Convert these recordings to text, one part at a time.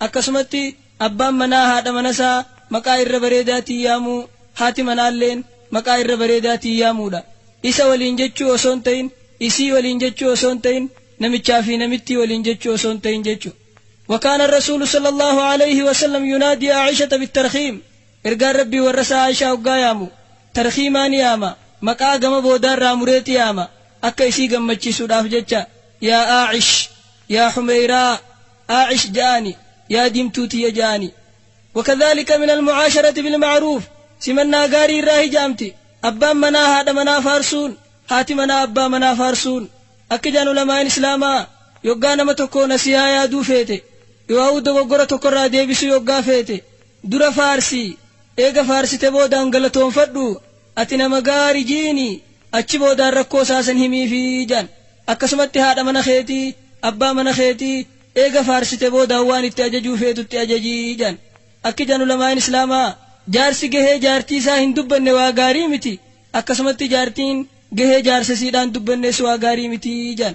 Akkasumatti abbaan manaa haadha manasaa maqaa irra bareedaatiin yaamuu, haati manaalleen maqaa irra bareedaatiin yaamuudha. Isa waliin jechuu osoo hin ta'in, isii waliin jechuu osoo hin ta'in, namichaa fi namittii waliin jechuu osoo hin ta'in jechu. Wakaana Ar-Rasuulu Sallallaahu Aleeyhi Wasallam Yunaadii Aa'ishata Bittarkhiim Ergaan Rabbii warrasaa Aa'ishaa hoggaa yaamu tarkhiimaa ni yaama, maqaa gama boodaarraa mureeti yaama, akka isii gammachiisuudhaaf jecha, Yaa Aa'ish! Yaa Humeeyraa! Aa'ish ja'aani, Yaa diimtuu tiyya ja'aani. Wakadhaalika minal mu'aasharati bil ma'ruuf, Simannaa gaarii irraa hija'amti. Abbaan manaa haadha manaa faarsuun, haati manaa abbaa manaa faarsuun. Akka ja'an ulamaa'in Islaamaa, yoggaa nama tokkoo nasiihaa yaaduu feete, yooauu dogoggora tokko irraa deebisuu yoggaa feete, Dura faarsi, eega faarsite boodaan galatoonfadhu, ati nama gaari ji'iini, achi boodaan rakkoo isaa san himiifi je'an. Akkasumatti haadha mana keetii, abbaa mana keetii, eega faarsite boodaan waan itti ajajuu feetutti ajaji je'an. Akki je'an ulamaa'in Islaamaa, jaarsi gahee jaartii isaa hin dubbanne waa gaarii miti, akkasumatti jaartiin gahee jaarsa isiidhaa hin dubbannees waa gaarii miti je'an.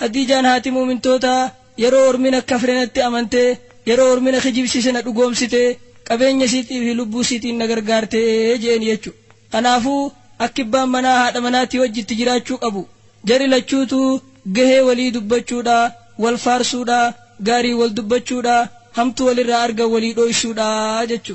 Khadiijaan haati mu'mintootaa yeroo ormi na kafre natti amante, yeroo ormi na kijibsiise na dhugoomsite, qabeenya isiitii fi lubbuu isiitiin na gargaarte je'een jechu. Kanaafuu akki ibbaan manaa haadha manaatii wajji itti jiraachuu qabu, jari lachuutuu gahee walii dubbachuudha, wal faarsuudha, gaariin wal dubbachuudha, hamtuu walirraa argan walii dhooysuudha jechu.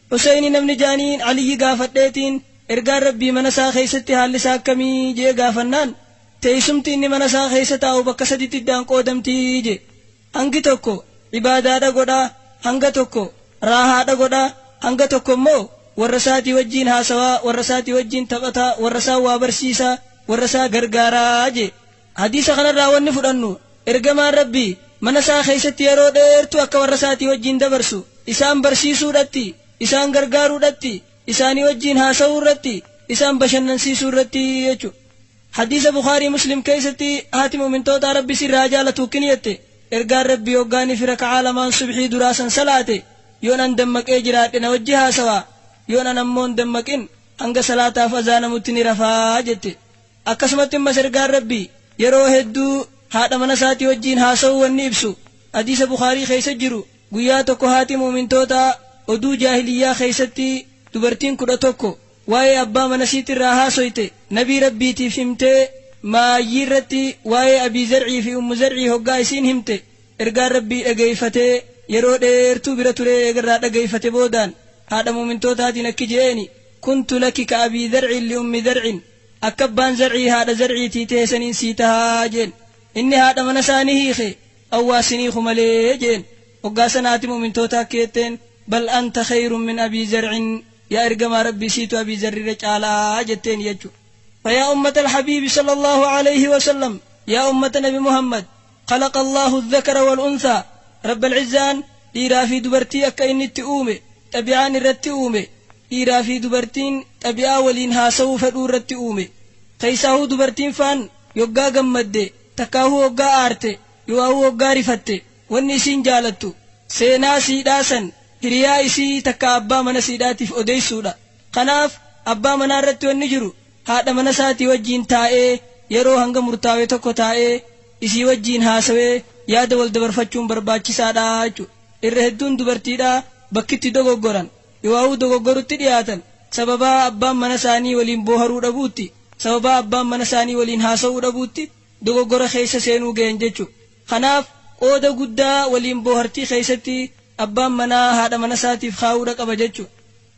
Huseyni namni jaaniin Aliyyi gaafadheetiin, Ergaan Rabbii mana isaa keessatti haalli isaa akkamii? je'ee gaafannaan, Teeysumti inni mana isaa keessa taa'u bakka saditti iddaan qoodamti je'e. Hangi tokko ibaadaadha godha, hanga tokko raahaadha godha, hanga tokko immoo warra isaatii wajjiin haasawa, warra isaatii wajjiin taphata, warra isaan waa barsiisa, warra isaa gargaara je'e. Hadiisa kanarraa wanni fudhannu, Ergamaan Rabbii mana isaa keessatti yeroo dheertuu akka warra isaatii wajjiin dabarsu, isaan barsiisuudhatti, isaan gargaaruudhatti, isaanii wajjiin haasawuu irratti, isaan bashannansiisuu irratti jechu. Hadiisa Bukhaarii Muslim keessatti haati mu'mintootaa Rabbi isii irraa haa jaalatu akkini jette, Ergaan Rabbii hoggaa inni fi raka'aa lamaan subhii duraa san salaate, yoon an dammaqee jiraadhe na wajji haasawa, yoon an ammoo hin dammaqin hanga salaataaf azaanamutti ni rafa jette. Akkasumatti ammas Ergaan Rabbii yeroo hedduu haadha mana isaatii wajjiin haasawuu wanni ibsu Hadiisa Bukhaarii keessa jiru guyyaa tokko haati mu'umintootaa oduu jaahiliyyaa keessatti dubartiin 11 waa'ee abbaa mana isiitirraa haasoyte Nabii Rabbiitiif himtee maayyiirratti waa'ee Abii Zar'ii fi Ummu Zar'ii hoggaa isiin himte Ergaan Rabbii dhageeyfatee yeroo dheertuu bira turee eegarraa dhageeyfate boodaan haadha mu'umintootaatiin akki je'eeni kuntu laki ka Abii Zar'in li Ummi Zar'in Akka abbaan zar'ii haadha zar'iitii tehe saniin sii taha jeen. Inni haadha mana isaa ni hiike, Awwaas hin hiiku malee jeen. Hoggaa san haati mu'mintootaa akki jetteen, Bal anta kheeyrun min Abii Zar'in, Yaa ergamaa Rabbii siitu Abii Zarr irra caalaa jetteeni jechuudha. Fayaa ummatal habiibi sallallaahu aleyhi wa sallam, Yaa ummata nabi Muhammad, Khalaqa Allaahu Azzakara wal Unthaa, Rabbal Izzaan dhiiraa fi dubartii akka inni itti uume, xabi'aan irratti uume, dhiiraa fi dubartiin xabi'aa waliin haasawuu fedhuu irratti uume. Keessaahuu dubartiin faan yoggaa gammadde, takkaahuu hoggaa aarte, yoaahuu hoggaa rifatte, wanni isiin jaalattu, seenaa siidhaa san hiriyaa isii takkaa abbaa mana siidhaatiif odeessuudha. Kanaaf, abbaa manaa irratti wanni jiru haadha mana isaatii wajjiin taa'ee yeroo hanga murtaawe tokko taa'ee isii wajjiin haasawee yaada wal dabarfachuun barbaachisaadha jechuudha. Irra hedduun dubartiidhaa bakki itti dogoggoran ywaawuu dogoggorutti dhiyaatan sababaa abbaan mana isaanii waliin booharuu dhabuutti, sababaa abbaan mana isaanii waliin haasawuu dhabuutti dogoggora keessa seenuu gayan jechuudha. Kanaaf, qooda guddaa waliin boohartii keessatti abbaan manaa haadha mana isaatiif kaa'uudha qaba jechuudha.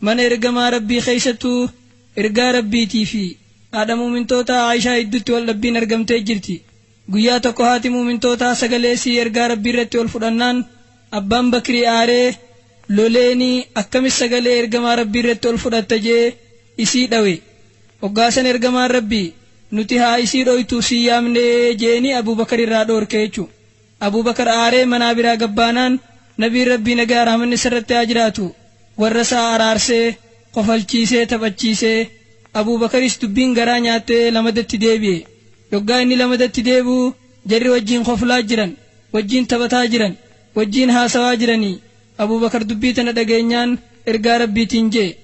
Mana Ergamaa Rabbii keessattuu Ergaa Rabbiitii fi haadha mu'umintootaa Aa'ishaa iddutti wal dhabbiin argamtee jirti. Guyyaa tokko haati mu'umintootaa sagalee isii Ergaa Rabbii irratti ol fudhannaan Abbaan Bakri aaree, loleeni, akkamit sagalee Ergamaa Rabbii irratti ol fudhatta je'ee isii dhawe. Hoggaa san Ergamaan Rabbii, Nuti haa isii dhooytuuf si yaamne je'eenii Abuu Bakar irraa dhoorke jechu'u. Abuu Bakar aaree manaa biraa gabbaanaan Nabiin Rabbii nagayaa rahmanni isarratti haa jiraatu warra isaa araarsee, kofalchiisee, taphachiisee. Abuu Bakaris dubbiin garaa nyaattee lamadatti deebi'e. Yoggaa inni lamadatti deebi'u jarri wajjiin koflaa jiran, wajjiin taphataa jiran, wajjiin haasawaa jiranii. Abuu Bakar dubbii tana dhageenyaan ergaa Rabbiitiin je'e,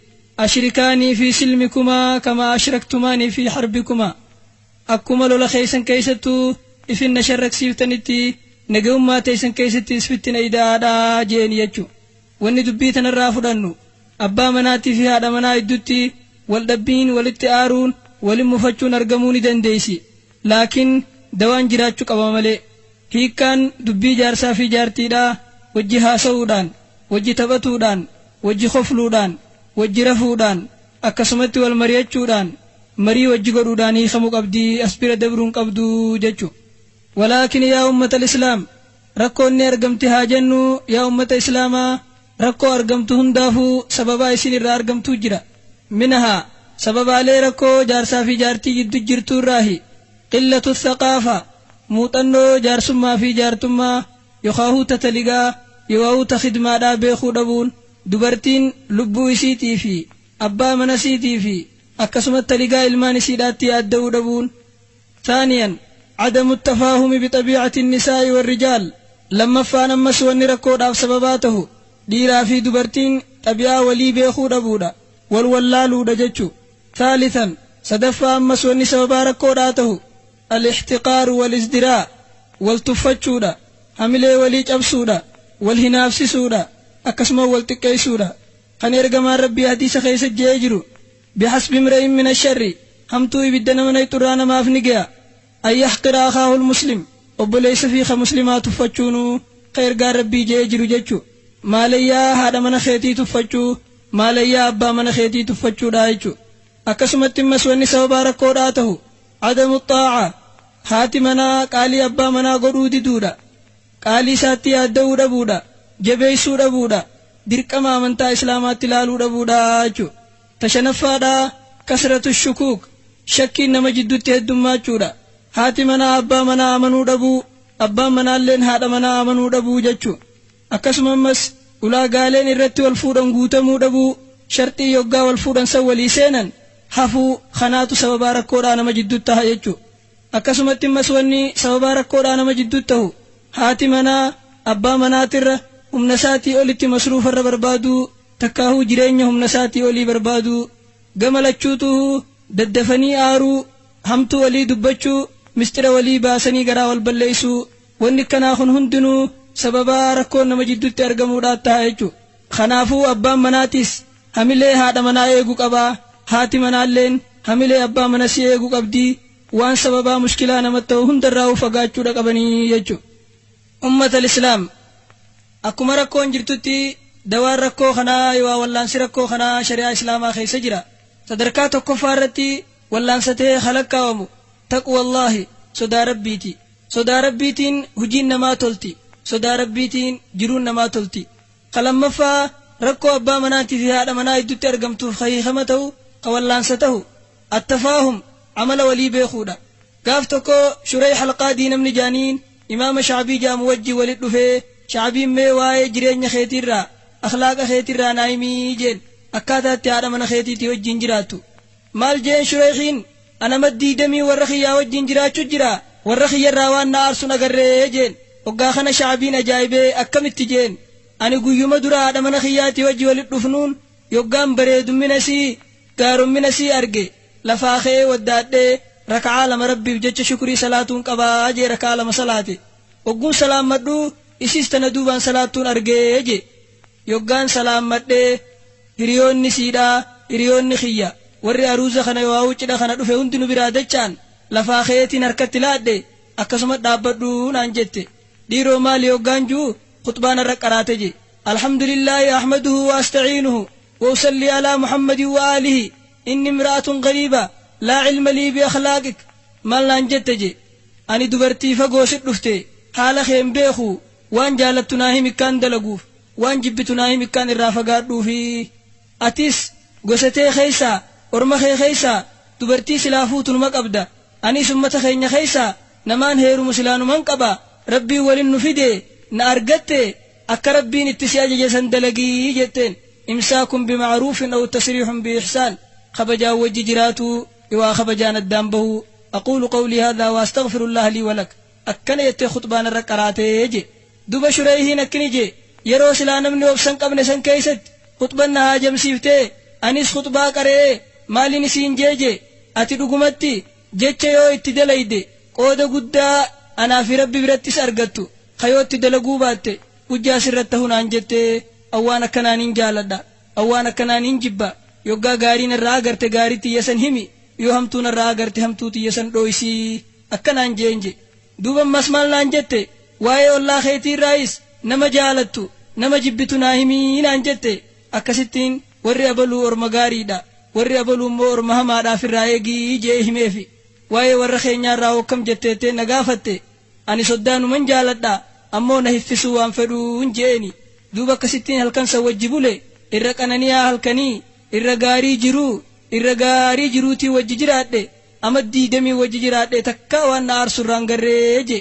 Ashrikaanii fii silmikumaa kamaa ashraktumaanii fii harbikumaa. Akkuma lola keessan keessattu isin na sharraksiiftanitti nagayummaa teessan keessattis fittina ida'aa dha je'eni jechu. Wanni dubbii tanarraa fudhannu, abbaa manaatii fi haadha manaa iddutti wal dhabbiin, walitti aaruun, walin mufachuun argamuu ni dandeessi. Laakin dawaan jiraachu qaba malee. Hiikkaan dubbii jaarsaa fi jaartiidhaa wajji haasawuudhaan, wajji taphatuudhaan, wajji kofluudhaan, wajji rafuudhaan, Akkasumatti wal mari'achuudhaan, marii wajji godhuudhaan hiikamu qabdi, as bira dabru hin qabdu jechu. Walaakin yaa ummatal islaam rakkoon ni argamti haa jennu, yaa ummata islaamaa rakkoo argamtu hundaafu sababaa isiin irraa argamtuu jira. Minahaa, sababaalee rakkoo jaarsaa fi jaartii jiddu jirtu irraahi, qillatu thaqaafa, muuxannoo jaarsummaa fi jaartummaa, yokaahuu ta taligaa, yoauu ta khidmaadhaa beekuu dhabuun, Dubartiin lubbuu isiitii fi abbaa mana isiitii fi akkasumatti haligaa ilmaan isiidhaatti yaadda'uu dhabuun, Thaaniyan, Adamu Tafaahumi Bixabiicati Nisaa'i Warrijaal, Lammaffaan ammas wanni rakkoodhaaf sababaa tahu dhiiraa fi dubartiin xabi'aa walii beekuu dhabuudha, wal wallaaluudha jechu. Thaalithan, Sadaffaa ammas wanni sababaa rakkoodhaa tahu, Al-ixtiqaaru wal-izdiraa, wal tuffachuudha, hamilee walii cabsuudha, wal hinaafsisuudha, akkasuma wal xiqqeessuudha. Kan Ergamaan Rabbii hadiisa keessatti je'ee jiru, Bihasbi imri'in min asharri, hamtuu ibidda nama nayxu irraa namaaf ni ge'a, an yahqira akhaahu al-muslim, obboleessa ifii ka muslimaa tuffachuunu, ka Ergaan Rabbii je'ee jiru jechu, maalayyaa haadha mana keetii tuffachuu, maalayyaa abbaa mana keetii tuffachuudha jechu. Akkasumatti immas wanni sababaa rakkoodhaa tahu, Adamu xaa'a, Haati manaa qaalii abbaa manaa godhuu diduudha. Qaalii isaatti yaadda'uu dhabuudha. Jabeessuu dhabuudha. Dirqama amantaa Islaamaatti laaluu dhabuudha jechuudha. Ta shanaffaadha, Kasratu shukuuk, Shakkiin nama jiddutti heddummaachuudha. Haati manaa abbaa manaa amanuu dhabuu, abbaan manaalleen haadha manaa amanuu dhabuu jechuudha. Akkasuma ammas ulaagaaleen irratti wal fuudhan guutamuu dhabuu, sharxii yoggaa wal fuudhan san walii seenan hafuu kanaatu sababaa rakkoodhaa nama jidduutti taha jechuudha. Akkasumatti ammas wanni sababaa rakkoodhaa nama jidduutti tahu haati manaa abbaa manaatirra humna isaatii olitti masruufa irra barbaaduu takkaahuu jireenya humna isaatii olii barbaaduu, gama lachuutuuhuu daddafanii aaruu, hamtuu walii dubbachuu, misxira walii baasanii garaa wal balleessuu, Wanni akkanaa kun hundinuu sababa rakkoon nama jidduutti argamuudhaan taha jechuudha. Kanaafuu abbaan manaatis hamilee haadha manaa eegu qaba, haati manaalleen hamilee abbaa manasii eegu qabdi, waan sababaa mushkilaa namat tahu hundarraahuu fagaachuudha qabanii jechuudha. Ummatal islaam! Akkuma rakkoon jirtutti dawaan rakkoo kanaa yookaa wallaansi rakkoo kanaa shari'aa islaamaa keessa jira. Sadarkaa tokkoffaa irratti wallaansa tahee ka lakkaa'amu taqwallaahi, sodaa Rabbiiti. Sodaa Rabbiitiin hujiin namaa tolti. Sodaa Rabbiitiin jiruun namaa tolti. Ka lammaffaa, rakkoo abbaa manaatii fi haadha manaa iddutti argamtuuf ka hiikama tahu, ka wallaansa tahu, At-tafaahum, amala walii beekuudha. Gaaf tokko Shureyh Al-Qaadii namni jaaniin Imaama Sha'bii ja'amu wajjin walit dhufee, Sha'biin mee waa'ee jireenya keetii irraa, akhlaaqa keetii irraa naa himii jeen, akkaataa itti haadha mana keetiitii wajjin jiraattu. Maal jeen Shureyhiin? Ana maddii demii warra kiyyaa wajjiin jiraachu jiraa warra kiyya irraa waan na aarsun agarree jeen oggaa kana shaabiin ajaa'ibee akkamitti jeen ani guyyuma dura haadha mana kiyyaatii wajji wali dhufnuun yoggaan bareedummina isii gaarommina isii arge lafaa ka'ee waddaadhee raka'aa lama rabbiif jecha shukrii salaatuun qabaa jee raka'aa lama salaate ogguun salaammadhu isiis tana duubaan salaattuun argee jee Yoggaan salaammadhe, hiriyoonni siidhaa, hiriyoonni kiyya, warri aruuza kana yooauu cidha kana dhufe hundi nu biraa dacha'an. Lafaa ka'eetiin harkatti laadhe, akkasuma dhaabbadhu naan jette. Dhiiroo maali yoggaan ju'u, khuxbaa narra qaraate je. Alhamdulillaahi ahmaduhu wa asta'iinuhu, wa usallii alaa Muhammadin wa aalihi, inni imra'atun ghariiba, laa ilma lii bi akhlaaqik, maal naan jette je. Ani dubartii fagoo sit dhufte, haala kee hin beeku, Waan jaalattu naa himi kkaan dalaguuf waan jibbitu naa himi kkaan irraa fagaadhuufi atis gosa tee keessaa orma kee keessaa dubartii silaa fuutu numa qabda aniis ummata keenya keessaa namaan heerumu silaa numan qaba rabbiin walin nu fidee na argatte akka rabbiin itti si ajaje san dalagi jetteen imsaakun bima'aruufin aw tasriihun bi'ihsaan kabajaan wajji jiraatuu ywaa kabajaan addaan bahuu aquulu qawlii haadhaa wa astaghfirullaaha lii wa lak. akkana jettee khuxbaa narra qaraate jee. Duba Shureyhiin akkni jee, yeroo silaa namni obsa hin qabne san keeysatti khuxban na haajamsiiftee, anis khuxbaa qare'ee maalini siin jee jee, ati dhugumatti jecha yoo itti dalayde qooda guddaa anaa fi Rabbi birattis argattu, kha yoo itti dalaguu baatte hujjaa sirratti tahu naan jette, an waan akkanaa nin jaaladha, an waan akkanaa nin jibba, yoggaa gaarii narraa agarte gaarii tiyya san himi, yoo hamtuu narraa agarte hamtuu tiyya san dhooysii. akka naan je'een je'e. Duuba ammas maal naan jette? Waa'ee ollaa keetii irraayis nama jaalattu, nama jibbitu naa himi naan jette. Akkasittiin warri abaluu orma gaariidha, warri abaluu immoo orma hamaadha ifirraa eegi je'ee himeefi. Waa'ee warra keenyaa irraa hoo akkam jette jettee na gaafatte. Ani soddaanuman jaaladha, ammoo na hiffisuu waan fedhuun je'eeni. Duuba akkasittiin halkan san wajji bule. Irra qanani'aa halkanii, irra gaarii jiruu, irra gaarii jiruutii wajji jiraadhe. Ama diidamii wajji jiraadhee takkaa waan na aarsu irraa hin garree je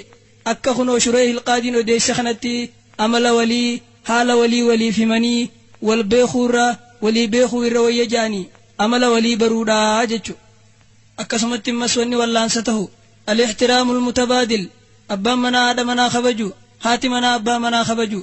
akka kunoo Shureyhil Qaadiin odeesse kanatti amala walii, haala walii waliif himanii wal beekuu irra walii beekuu irra wayya je'anii amala walii baruudha jechu. Akkasumatti immas wanni wallaansa tahu Al-Ixtiraamul Mutabaadil, abbaan manaa haadha manaa kabaju, haati manaa abbaa manaa kabaju.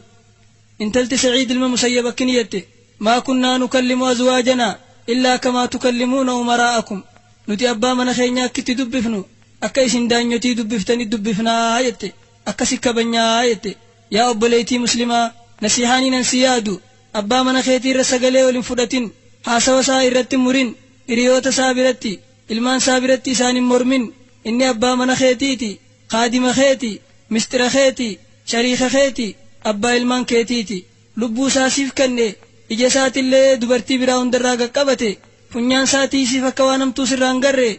Intalti Sa'iid ilma Musayyab akkni jette, Maa kunnaa nukallimu azwaajanaa illaa kamaa tukallimuuna umaraa'akum, Nuti abbaa mana keenyaa akkitti dubbifnu akka isin daanyotii dubbiftani dubbifna jette, akkasi kabajna jette. Yaa obboleeytii Muslimaa! Nasiihaaniin an si yaadu, abbaa mana keetii irra sagalee ol hin fudhatin, haasawa isaa irratti hin murin, hiriyoota isaa biratti, ilmaan isaa biratti isaan hin mormin, inni abbaa mana keetiiti. Khaadima keeti, misxira keeti, shariika keeti, abbaa ilmaan keetiiti. Lubbuu isaa siif kenne, ija isaatillee dubartii biraa hundarraa gad qabate, funyaan isaa tiisiif akka waan hamtuu sirraa hin garre,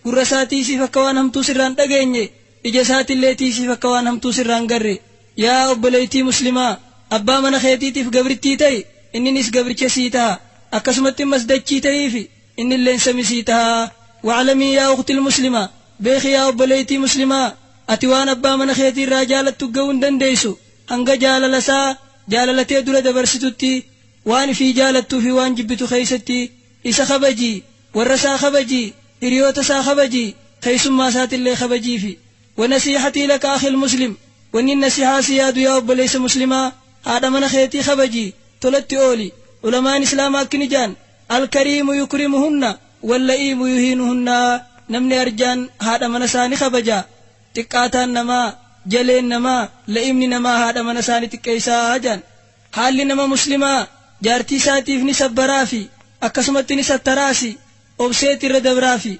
gurra isaa tiisiif akka waan hamtuu sirraa hin dhageenye, ija isaatillee tiisiif akka waan hamtuu sirraa hin garre. Yaa obboleeytii muslimaa! Abbaa mana keetiitiif gabrittii ta'i, inninis gabricha sii taha. Akkasumatti ammas dachii tahiifi, innilleen sami sii taha. Wa'lamii yaa ukhtil muslima! Beeki yaa obboleeytii muslimaa, ati waan abbaa mana keetii irraa jaalattu gahuu hin dandeeysu, hanga jaalala isaa, jaalala tee dura dabarsitutti, waan ifii jaalattuu fi waan jibbitu keeysatti, isa kabaji, warra isaa kabaji, hiriyoota isaa kabaji, keeysummaa isaatillee kabajiifi. Wa nasiihatii laka akhil muslim, wannin nasihaa si yaadu yaa obboleeysa muslimaa, haadha mana keetii kabaji, tolatti ooli, ulamaan islaamaa akkni jaan, Al kariimu yukrimuhunna, Walla'ii buyuhiinuhunnaa namni arjaan haadha mana isaa ni kabaja xiqqaataan namaa jaleen namaa la'imni namaa haadha mana isaa ni xiqqeeysaa jedhan haalli nama muslimaa jaartii isaatiif ni sabbaraafi akkasumatti ni sattaraasi obseeti irra dabraafi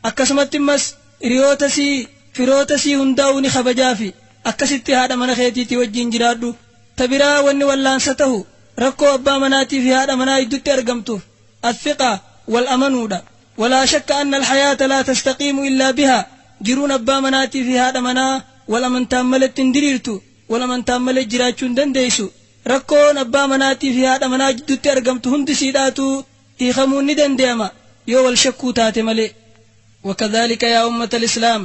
akkasumatti immas hiriyoota isii firoota isii hundaa'uu ni kabajaafi akkasitti haadha mana keetiitii wajjiin jiraadhu ta biraa wanni wallaansa tahu rakkoo abbaa manaatiifi haadha manaa iddutti argamtuuf Athiqa, wal amanuudha. Walaa shakka anna alhayaata laa tastaqiimu illaa bihaa, jiruun abbaa manaatii fi haadha manaa wal amantaan maletti hin diriirtu, wal amantaan malee jiraachuu hin dandeessu. Rakkoon abbaa manaatii fi haadha manaa jidduutti argamtu hundi siidhaatu hiikamuun ni dandeeyama yoo wal shakkuu taate malee. Wakadhaalika yaa ummata alislaam,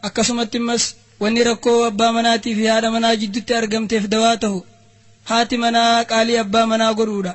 akkasumatti immas wanni rakkoo abbaa manaatii fi haadha manaa jidduutti argamteef dawaa tahu, haati manaa qaalii abbaa manaa godhuudha.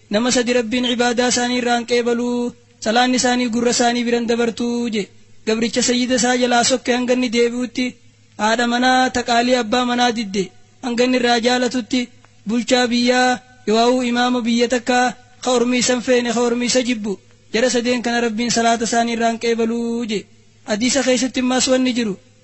Nama sadi Rabbiin ibaadaa isaanii irraa hin qeebalu, salaanni isaanii gurra isaanii bira hin dabartu je, gabricha sayyida isaa jalaa sokke hanga inni deebi'utti, haadha manaa ta qaalii abbaa manaa didde hanga inni irraa jaalatutti, bulchaa biyyaa yooauu imaama biyya takkaa ka ormi isa hin feene ka ormi isa jibbu, jara sadeen kana Rabbiin salaata isaanii irraa hin qeebalu je. Hadiisa keessatti ammaas wanni jiru,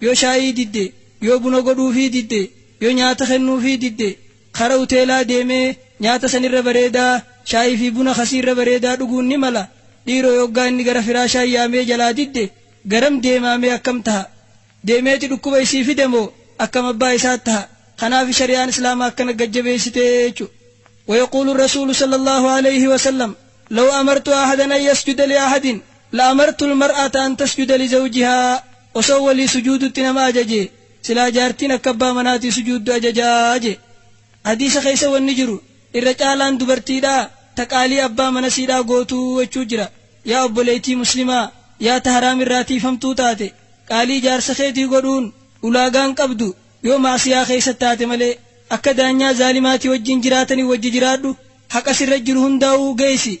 Yoo shaayii didde, yoo buna godhuufii didde, yoo nyaata kennuufii didde, kara huteelaa deemee nyaata san irra bareedaa, shaayii fi buna kasii irra bareedaa dhuguun ni mala. Dhiiroo yoggaa inni gara firaashaa yaamee jalaa didde, garam deemaa mee akkam taha? Deemeeti dhukkuba isii fida moo akkam abbaa isaa taha? Kanaafi shari'aan Islaamaa akkana gad jabeessite jechu. Wayaquulu Rasuulu sallallaahu aleyhi wa sallam, Law amartu ahadan an yasjuda li'ahadin, la'amartu lmar'ata an tasjuda lizawjihaa. Osoo walii sujuudutti nama ajajee, silaa jaartiin akka abbaa manaatii sujuuddu ajajaa jee. Hadiisa keessa wanni jiru, irra caalaan dubartiidhaa ta qaalii abbaa manasiidhaa gootu jechuu jira. Yaa obboleeytii muslimaa, yaa ta haraam irraa tiiyfamtuu taate, qaalii jaarsa keetii godhuun ulaagaa hin qabdu, yoo ma'asiyaa keessa taate malee. Akka daanyaa zaalimaatii wajjiin jiraatanii wajji jiraadhu, haqa sirra jiru hundaawuu geeysi.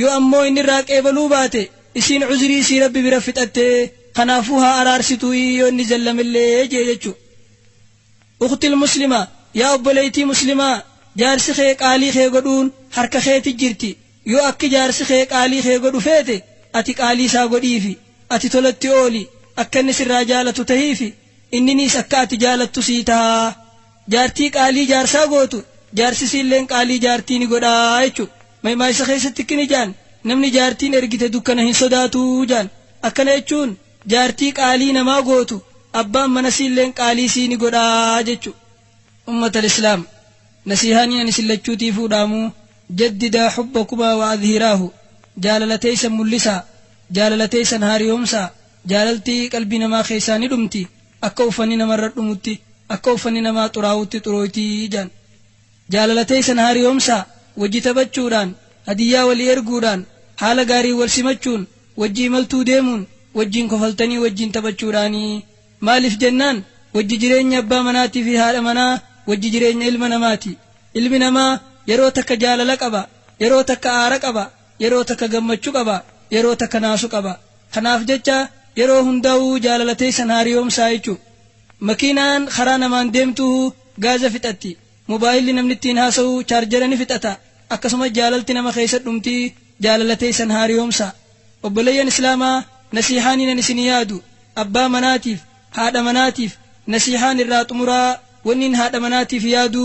Yoo ammoo inni irraa qeebaluu baate, isiin cuzrii isii Rabbi bira fixatte, kanaafuu haa araarsituu'i yoo inni jallamellee je'e jechu'u. Ukhtil Muslima, Yaa obboleeytii Muslimaa, jaarsi kee qaalii kee godhuun harka keeti jirti, yoo akki jaarsi kee qaalii kee godhu feete, ati qaalii isaa godhiifi, ati tolatti ooli, akka inni sirraa jaalatu tahiifi, inniniis akka ati jaalattu sii taha. Jaartii qaalii jaarsaa gootu, jaarsi isiilleen qaalii jaartii ni godha jechu. Maymaaysa keessatti kkni jaan, Namni jaartiin ergite dukkana hin sodaatu jaan. Akkana jechuun jaartii qaalii namaa gootu, abbaan mana isiilleen qaalii isii ni godha jechu. Ummatal Islaam! Nasiihaanii ani isin lachuutiifuu dhaamu, Jaddidaa hubbakumaa wa adhiraahu, Jaalala teessan mul'isaa, jaalala teessan haariyoomsaa. Jaalalti qalbii namaa keessaa ni dhumti, akka uffanni namarra dhumutti, akka uffanni namaa xuraawutti xurooyti jedhan. Jaalala teessan haariyoomsaa, wajji taphachuudhaan, hadiyyaa walii erguudhaan, haala gaariin wal simachuun, wajji imaltuu deemuun, wajjiin kofaltanii wajjiin taphachuudhaani. Maaliif jennaan, wajji jireenyi abbaa manaatii fi haadha manaa wajji jireenya ilma namaati. Ilmi namaa yeroo takka jaalala qaba, yeroo takka aara qaba. Yeroo takka gammachu qaba yeroo takka naasu qaba kanaaf jecha yeroo hundahu jaalala teessan haariyoomsaa jechu makiinaan karaa namaan deemtuhu gaaza fixatti mobaayilli namni ittiin haasahu chaarjera ni fixata akkasumas jaalalti nama keessa dhumti jaalala teessan haariyoomsaa obboleeyyan islaama nasiihaaniinan isin yaadu abbaa manaatiif haadha manaatiif nasiihaan irraa xumuraa wanniin haadha manaatiif yaadu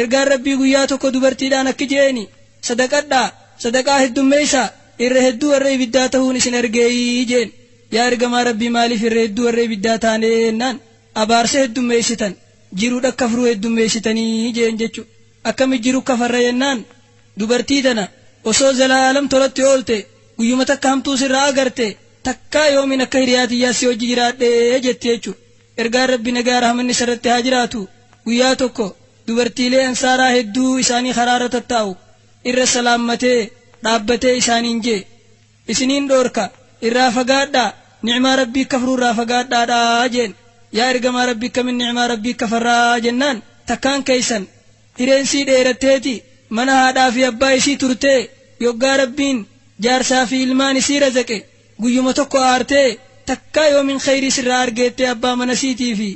Ergaan Rabbii guyyaa tokko dubartiidhaan akki je'eeni, Sadaqadhaa, sadaqaa heddummeeysaa, irra hedduu warra ibiddaa tahuun isin argeeyii je'een. Yaa Ergamaa Rabbii maaliif irra hedduu warra ibiddaa taanee jennaan, abaarsa heddummeeysitan, jirudha kafruu heddummeeysitanii je'een jechu. Akkami jiru kafarra jennaan, dubartii tana osoo zalaalam tolatti oolte, guyyuma takka hamtuu sirraa agarte, takkaa yoomiin akka hiriyaa tiyyaa si wajji jiraadhe jetti jechu. Ergaan Rabbi nagaa rahmanni isarratti haa jiraatu guyyaa tokko dubartiilee Ansaaraa hedduu isaanii karaarra tattaa'u irra salaammatee dhaabbatee isaaniin je'e, Isiniin dhoorka, irraa fagaadhaa, ni'maa Rabbii kafruu irraa fagaadhaadhaa je'en. Yaa Ergamaa Rabbii kamin ni'maa Rabbii kafarra? jennaan, takkaan keessan hireen isii dheeratteeti, mana haadhaa fi abbaa isii turtee, yoggaa Rabbiin jaarsaa fi ilmaan isii razaqe, Guyyuma tokko aartee takkaa yoomin kheyrii sirraa argeettee abbaa mana siitii fi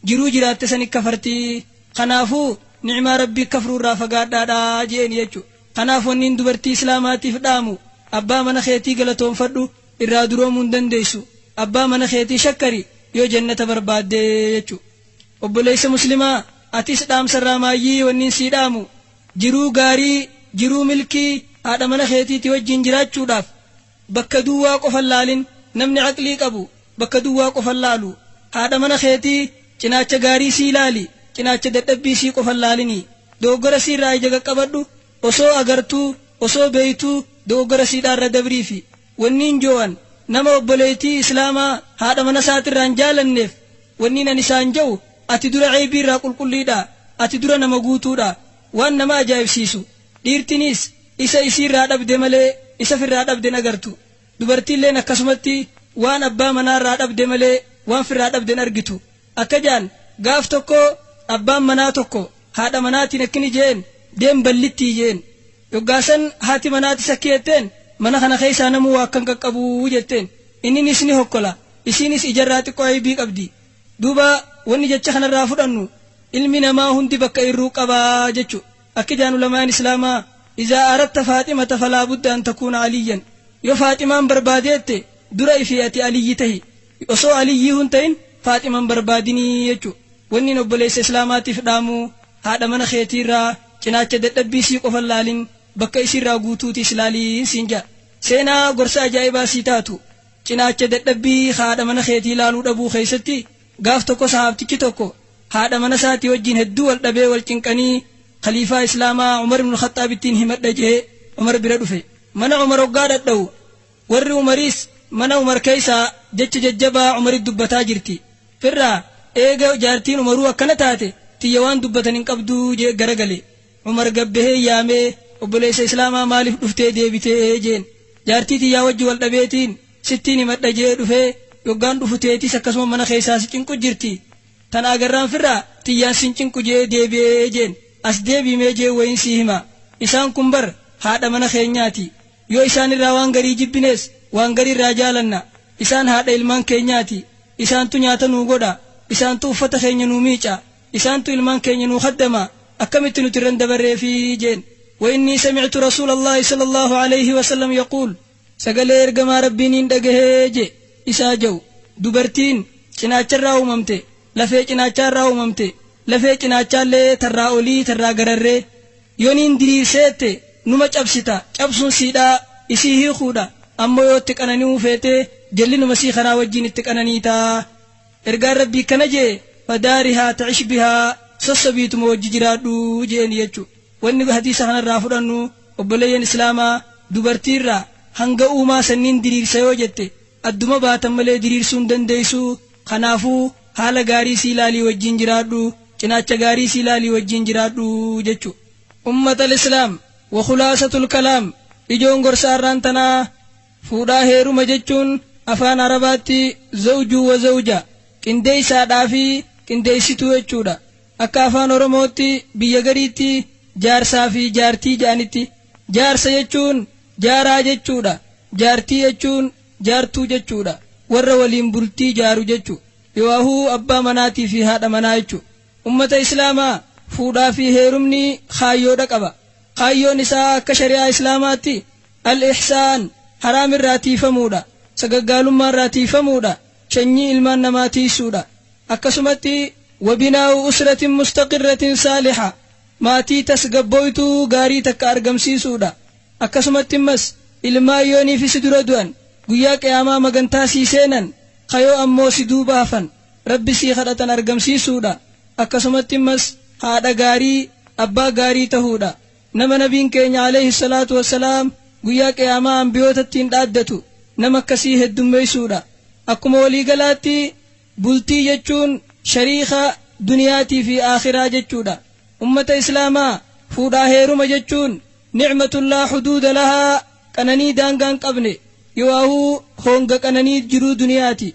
jiruu jiraatte sani kafartii kanaafuu ni'maa rabbii kafruu irraa fagaadhaadha je'een jechu kanaaf wanniin dubartii islaamaatiif dhaamu abbaa mana keetii galatoonfadhu irraa duroomuu hin dandeessu abbaa mana keetii shakkari yoo jannata barbaadde jechu obboleessa muslimaa atis dhaamsa irraa maayyii wanniin sii dhaamu jiruu gaarii jiruu milkii haadha mana keetiiti wajjiin jiraachuudhaaf Bakka duwwaa qofa hin laalin. Namni aqlii qabu bakka duwwaa qofa hin laalu. Haadha mana keetii cinaacha gaarii isii ilaali, cinaacha dadhabbii isii qofa hin laalini. Dogoggora isii irraa ija qaqqabadhu, osoo agartuu, osoo beeytuu dogoggora isiidhaa irra dabriifi. Wanniin jo'an nama obboleeytii Islaamaa haadha mana isaati irraa hin jaalanneef, wanniin ani isaan jo'u, ati dura eeybii irraa qulqulliidha, ati dura nama guutuudha. Waan nama ajaa'ibsiisu! Dhiirtiniis isa isii irraa dhabde malee isa firraa dhabde hin agartu. Dubartiilleen akkasumatti waan abbaa manaa irraa dhabde malee waan firraa dhabde hin argitu. Akka ja'an gaaf tokko abbaan manaa tokko haadha manaatiin akkini je'een deem ballittii je'een. Yoggaasan haati manaa tis akki jetteen mana kana keessaa namuu waa akkan qaqqabu jetteen. Inniniis ni hokkola. Isiinis ijarraa xiqqoo aybii qabdi. Duuba wanni jecha kanarraa fudhannu ilmi namaa hundi bakka irruu qaba jechu. Akka jedhan ulamaan Islaamaa, Izaa aradta Faaximata falaa budda an takuuna Aliyyan, Yoo Faaximaan barbaadeette dura ifii ati Aliyyi tahi. Osoo Aliyyii hun tahin Faaxima hin barbaadini jechu. Wannin obboleessa Islaamaatiif dhaamu, haadha mana keetiirraa cinaacha dadhabbii isii qofa hin laalin, bakka isiirraa guutuutiis ilaali siin jedha. Seenaa gorsa ajaa'ibaa sii taatu, cinaacha dadhabbii ka haadha mana keetii laaluu dhabuu keessatti Gaaf tokko sahaabtichi tokko haadha mana isaatii wajjiin hedduu wal dhabee wal cinqanii Khaliifaa Islaamaa Umar ibn Khaxxaabittiin himadha je'ee Umar bira dhufe. Mana Umar hoggaa dhadhawu warri Umariis mana Umar keessaa jecha jajjabaa Umaritti dubbataa jirti. Firraa, eega jaartiin Umaruu akkana taate tiyya waan dubbatan hin qabdu je'e garagale. Umar gad bahee yaamee, Obboleessa Islaamaa maaliif dhuftee deebite? jeen. Jaartii tiyyaa wajji wal dhabeetiin sittiin himadha je'ee dhufee, yoggaan dhufu teetis akkasuma mana keessaa si cinqu jirti. Tana agarraan firra tiyyaan sin cinqu je'ee deebi'e jeen. As deebi'i mee je'ee wayiin sii hima. Isaan kun bar haadha mana keenyaati. Yoo isaan irraa waan garii jibbines, waan garii irraa jaalanna. Isaan haadha ilmaan keenyaati. Isaantu nyaata nuu godha. Isaantu uffata keenya nuu miica. Isaantu ilmaan keenya nuu khaddama, akkamitti nuti irra hin dabarreefi? jeen. Wa'innii samictu Rasuula Allaahi sallallaahu alayhi wa sallam yaquul, Sagalee Ergamaa Rabbii niin dhagahe je, isaa ja'u, Dubartiin, cinaacha irraa uumamte, lafee cinaachaa irraa uumamte, lafee cinaachaa'llee tarraa olii tarraa gararree, yo niin diriirseette, numa cabsita, cabsuun siidhaa, isii hiikuudha, ammoo yo itti qanani'uu feete, jallinuma isii kanaa wajjiin itti qananiita. Ergaan Rabbii akkana je'e, Fadaarihaa ta'ish bihaa, Sossobiituma wajji jiraadhu je'eeni jechu. Wanni hadiisa kana irraa fudhannu, obboleeyyan Islaamaa, dubartii irraa, hanga uumaa sanniin diriirsa yoo jette, adduma baatan malee diriirsuu hin dandeeysu, kanaafu, haala gaarii isii laalii wajjiin jiraadhu, cinaacha gaarii isii laalii wajjiin jiraadhu jechu. Ummatal Islaam, Wa khulaasatul kalaam, Ijoon gorsa arraan tanaa, Fuudhaa heeruma jechuun afaan Arabaatti zawjuu wa zawja, qindeessaadhaa fi qindeessituu jechuudha. Akka afaan Oromootti biyya gariitti jaarsaa fi jaartii jedhanitti. Jaarsa jechuun jaaraa jechuudha. Jaartii jechuun jaartuu jechuudha. Warra waliin bultii jaaru jechu. Yooahuu abbaa manaatii fi haadha manaa jechu. Ummata Islaamaa, fuudhaa fi heerumni kaayyoodha qaba. Kaayyoon isaa akka shari'aa Islaamaatti Al-Ihsaan, haraam irraa tiiyfamuudha, sagaggaalummaa irraa tiiyfamuudha, shanyii ilmaan namaa tiiysuudha. Akkasumatti Wa binaa'u usratin mustaqirratin saaliha, maatii tasgabbooytuu gaarii takka argamsiisuudha. Akkasumatti ammas ilmaan yooniifi si dura du'an, guyyaa qiyaamaa magantaa sii seenan, kayoo ammoo si duuba hafan. Rabbi sii kadhatan argamsiisuudha. Akkasumatti immas haadha gaarii, abbaa gaarii tahuudha. Nama Nabiin keenya aleyhi salaatu wa salaam guyyaa qiyaamaa anbiyoota ittiin dhaaddatu nama akkasii heddummeeysuudha. Akkuma walii galaatti bultii jechuun shariika duniyaatii fi aakhiraa jechuudha. Ummata Islaamaa fuudhaa heeruma jechuun ni'matun laa huduuda lahaa qananii daangaa hin qabne yooaahuu hoonga qananii jiruu duniyaati.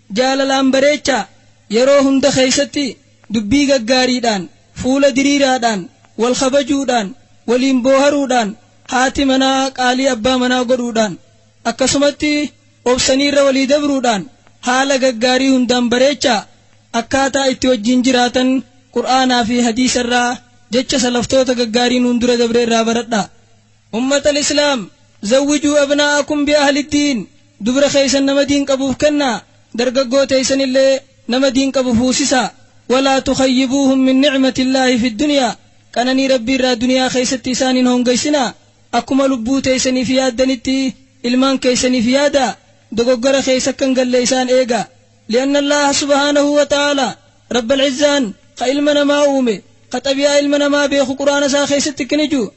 Jaalalaan bareechaa, yeroo hunda keessatti dubbii gaggaariidhaan, fuula diriiraadhaan, wal kabajuudhaan, waliin booharuudhaan, haati manaa qaalii abbaa manaa godhuudhaan, akkasumatti obsanii irra walii dabruudhaan haala gaggaarii hundaan bareechaa, akkaataa itti wajjin jiraatan Qur'aanaa fi Hadiisa irraa, jecha salaftoota gaggaarii nuun dura dabre irraa baradhaa. Ummatal islaam zawwijuu abna'akum bi ahli diin dubra kheeysan nama diin qabuf kenna dargaggoo teeysanillee nama diin qabu fuusisa walaa tukhayyibuuhum min ni'matillaahi fi dunyaa qananii rabbiirraa duniyaa kheeysatti isaan hin hoongeysina akkuma lubbuu teeysaniif yaaddanitti ilmaan keeysaniif yaadaa dogoggora kheeysa akka hin galle isaan eegaa li'anna allaaha subhaanahu wa ta'aalaa rabbal izzaan kha ilma namaa uume kha xabi'aa ilma namaa beekhu qur'aana isaa kheeysatti kni juu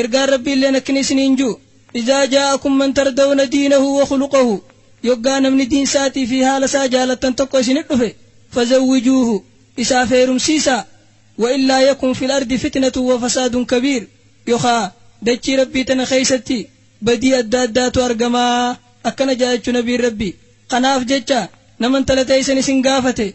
Ergaan Rabbiilleen akkni isiniin ju'u, Izaa jaa'akum man tardawna diinahu wa khuluqahu, Yoggaa namni diin saatii fi haala saa jaalattan tokko isinit dhufe, fazawwijuuhu, isaaf heerumsiisaa, wa illaa yakun fil ardi fitnatun wa fasaadun kabiir, yokhaa, dachii Rabbii tana keessatti badii adda addaatu argamaa, akkana ja'a jechu Nabiin Rabbii. Kanaaf jecha, nama intala teessan isin gaafate,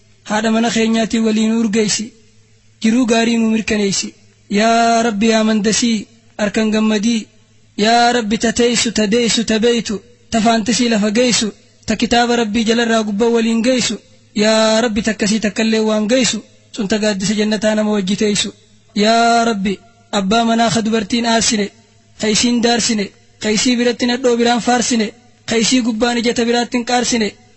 haadha mana keenyaatii walii nu urgeessi jiruu gaarii nu mirkaneessi yaa rabbi yaa mandasii arkan gammadii yaa rabbi ta teessu ta deessu ta beeytu ta faantisii lafa geessu ta kitaaba rabbii jalarraa gubba waliin geessu yaa rabbi takkasii takkallee waan geessu sun ta gaaddisa jannataa nama wajji teessu yaa rabbi abbaa manaa ka dubartiin aarsine ka isiin daarsine ka isii biratti nadhoo biraan faarsine ka isii gubbaan ija ta biraattin qaarsine